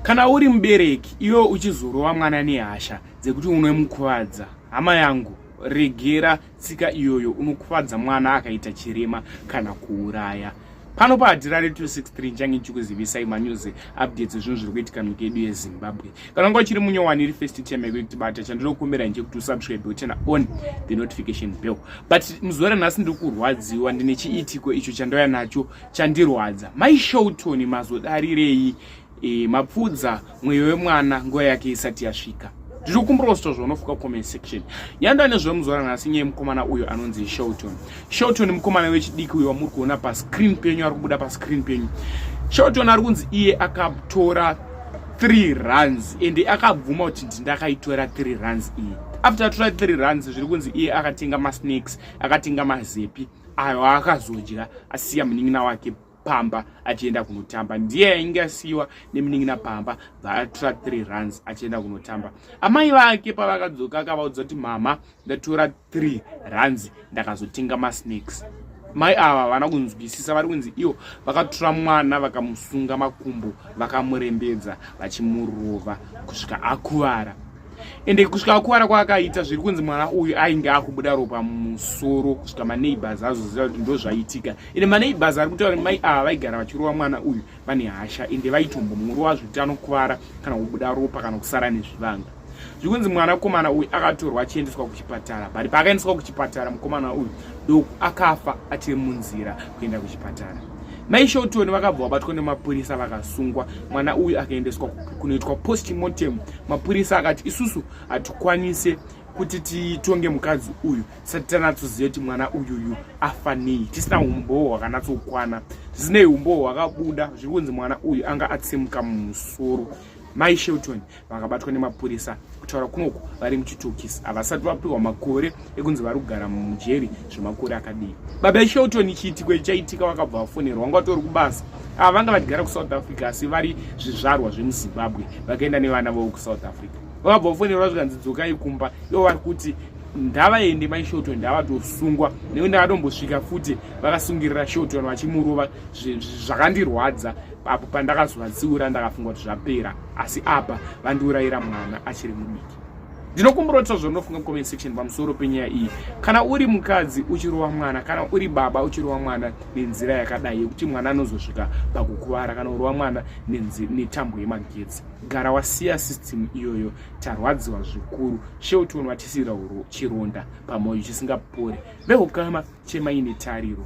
kana uri mubereki iwe uchizorova mwana nehasha dzekuti unomukuvadza hama yangu regera tsika iyoyo unokuvadza mwana akaita chirema kana kuuraya pano paadhira re 263 nchange ndichikuzivisai manews updates ezvinhu zviri kuitika nyika yedu yezimbabwe kana unga uchiri munyowani iri first time yako yekutibata chandinokumbira nje kuti usubscribe uchena on the notification bell but muzore nhasi ndiri kurwadziwa ndine chiitiko icho chandauya nacho chandirwadza mai showton mazodarirei e, mapfudza mweyo wemwana nguva yake isati yasvika ndiri kumbirawo zvitwa zvaunofuka comment section nyanda nezvemuzora nhasi nyaya mukomana uyo anonzi showton showton mukomana wechidiki uyo wamuri kuona pascreen penyu ari kubuda pascreen penyu showton ari kunzi iye akatora three runs ende akabvuma kuti ndindakaitora three runs iyi after atora three runs zviri kunzi iye akatenga masnakes akatenga mazepi ayo aakazodya asiya munin'ina wake pamba achienda kunotamba ndiye ainge asiyiwa nemunin'ina pamba bvaatora three runs achienda kunotamba amai vake pavakadzoka akavaudza kuti mama ndatora three runs ndakazotenga masnakes mai ava havana kunzwisisa vari kunzi ivo vakatora mwana vakamusunga makumbo vakamurembedza vachimurova kusvika akuvara ende kusvika akuvara kwaakaita zviri kunzi mwana uyu ainge akubuda ropa musoro kusvika maneighbors azoziva kuti ndo zvaitika ende maneighbors ari kutaura kuti mai ava vaigara vachirova mwana uyu vane hasha ende vaitombomurova zvekuti anokuvara kana kubuda ropa kana kusara nezvivanga zviri kunzi mwana mukomana uyu akatorwa achiendeswa kuchipatara but paakaendeswa kuchipatara mukomana uyu doku akafa achiri munzira kuenda kuchipatara mai shotoni vakabva vabatwa nemapurisa vakasungwa mwana uyu akaendeswa kunoitwa postmortem mapurisa akati isusu hatikwanise kuti titonge mukadzi uyu tisati tanatsoziva kuti mwana uyuyu afanei tisina umbowo hwakanatsokwana zvisinei umbowo hwakabuda zviri kunzi mwana uyu anga atsimuka mumusoro mai shelton vakabatwa nemapurisa kutaura kunoku vari muchitokisi havasati vapiwa makore ekunzi vari kugara mujeri zvemakore akadii baba shelton chiitiko ichaitika vakabva vafonerwa wanga vatori kubasa ava vanga vachigara kusouth africa asi vari zvizvarwa zvemuzimbabwe vakaenda nevana vavo kusouth africa vakabva vafonerwa zvikanzi dzokai kumba ivo vari kuti ndavaende mai shelton ndavatosungwa nekuti ndakatombosvika futi vakasungirira shelton vachimurova zvakandirwadza apo pandakazovatsiura ndakafunga kuti zvapera asi apa vandiurayira mwana achiri mudiki ndinokumbira kuti zvaunofunga comment section pamusoro penyaya iyi kana uri mukadzi uchirova mwana kana uri baba uchirova mwana nenzira yakadai yekuti mwana anozosvika pakukuvara kana urova mwana netambo yemagetsi gara wasiya system iyoyo tarwadziwa zvikuru sheuti unovatisira chironda pamoyo chisingapore vehukama chemaine tariro